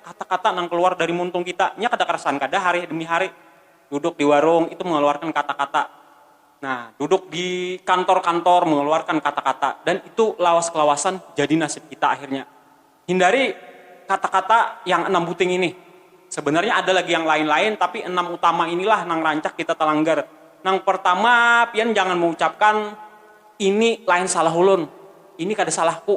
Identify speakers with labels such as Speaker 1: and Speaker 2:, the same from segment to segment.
Speaker 1: Kata-kata nang keluar dari muntung kita, nya kada karasan kada hari demi hari duduk di warung itu mengeluarkan kata-kata, nah duduk di kantor-kantor mengeluarkan kata-kata dan itu lawas kelawasan jadi nasib kita akhirnya. Hindari kata-kata yang enam buting ini, sebenarnya ada lagi yang lain-lain tapi enam utama ini lah nang rancak kita talanggar. Nang pertama pian jangan meucapkan ini lain salah ulun, ini kada salahku.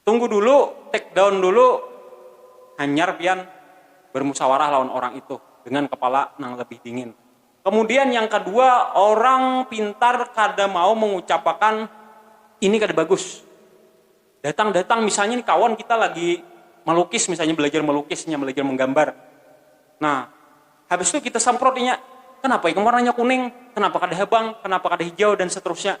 Speaker 1: Tunggu dulu, take down dulu, hanyar pian bermusawarah lawan orang itu dengan kepala nang lebih dingin. Kemudian yang kedua, orang pintar kada mau mengucapakan ini kada bagus. Datang-datang misalnya nih kawan kita lagi melukis misalnya belajar melukis inya belajar menggambar, nah habis itu kita samprot inya, kenapa ikam warnanya kuning, kenapa kada habang, kenapa kada hijau dan seterusnya.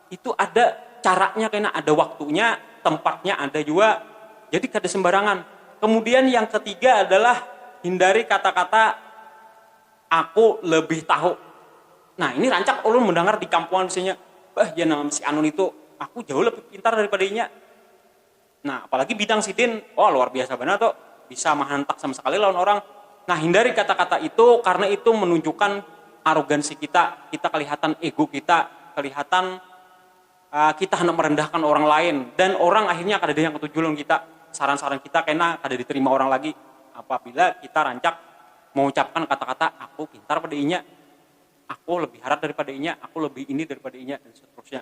Speaker 1: Itu ada caranya kena, ada waktunya, tempatnya ada jua. Jadi kada sembarangan. Kemudian yang ketiga adalah hindari kata-kata aku lebih tahu. Nah, ini rancak ulun mendangar di kampungan misalnya, bah jar nang si anu nitu, aku jauh lebih pintar daripada inya. Nah, apalagi bidang sidin, wah luar biasa banar tu, bisa mahantak sama sakali lawan orang. Nah, hindari kata-kata itu karena itu menunjukkan arogansi kita, kita kelihatan ego kita, kelihatan kita handak merendahkan orang lain dan orang akhirnya kadada yang ketuju lawan kita, saran-saran kita kena kada diterima orang lagi apabila kita rancak mengucapkan kata-kata aku pintar pada inya, aku lebih harat daripada inya, aku lebih ini daripada inya dan seterusnya.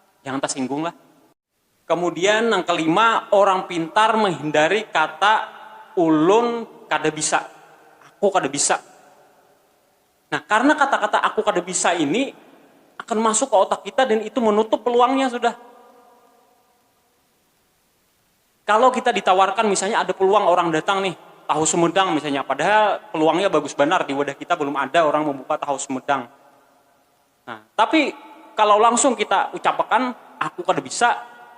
Speaker 1: jangan tasinggung lah. Kemudian nang kelima, orang pintar menghindari kata ulun kada bisa, aku kada bisa. Nah karena kata-kata aku kada bisa ini akan masuk ke otak kita dan itu menutup peluangnya sudah. Kalo kita ditawarkan misalnya ada peluang orang datang nih tahu sumedang misalnya padahal peluangnya bagus banar di wadah kita belum ada orang membuka tahu sumedang. Nah, tapi kalau langsung kita ucapakan aku kada bisa,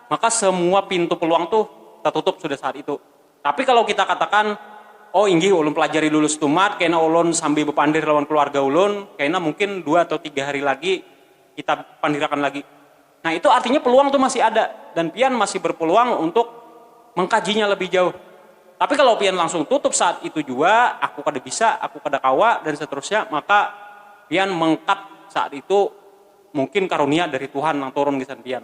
Speaker 1: maka semua pintu peluang tuh tatutup sudah saat itu. Tapi kalau kita katakan, oh inggih ulun pelajari dulu stumat, kena ulun sambil bepandir lawan keluarga ulun, kena mungkin dua atau tiga hari lagi kita pandirakan lagi. Nah itu artinya peluang tu masih ada dan pian masih berpeluang untuk mengkajinya lebih jauh. Tapi kalau pian langsung tutup saat itu jua, aku kada bisa, aku kada kawa dan seterusnya, maka pian mengkat saat itu mungkin karunia dari Tuhan nang turun gasan pian.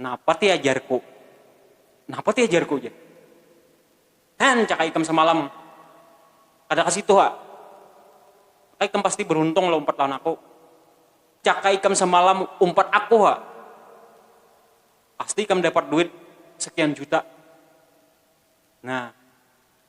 Speaker 1: Napa ti ajarku? Napa ti ajarku jar? Hen caka ikam samalam kada ka situ ha. Maka ikam pasti beruntung lah umpat lawan aku. Caka ikam samalam umpat aku ha. Pasti ikam dapat duit sekian juta. Nah.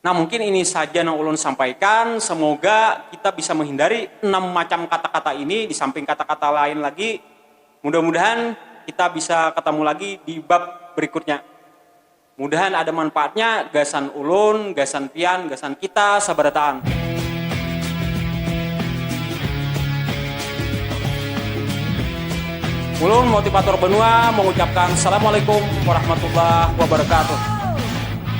Speaker 1: Nah mungkin ini saja nang ulun sampaikan, semoga kita bisa menghindari enam macam kata-kata ini disamping kata-kata lain lagi, mudah-mudahan kita bisa ketemu lagi di bab berikutnya, mudahan ada manfaatnya gasan ulun, gasan pian, gasan kita sabarataan. Ulun motivator benua mengucapkan assalamualaikum warahmatullahi wabarakatuh.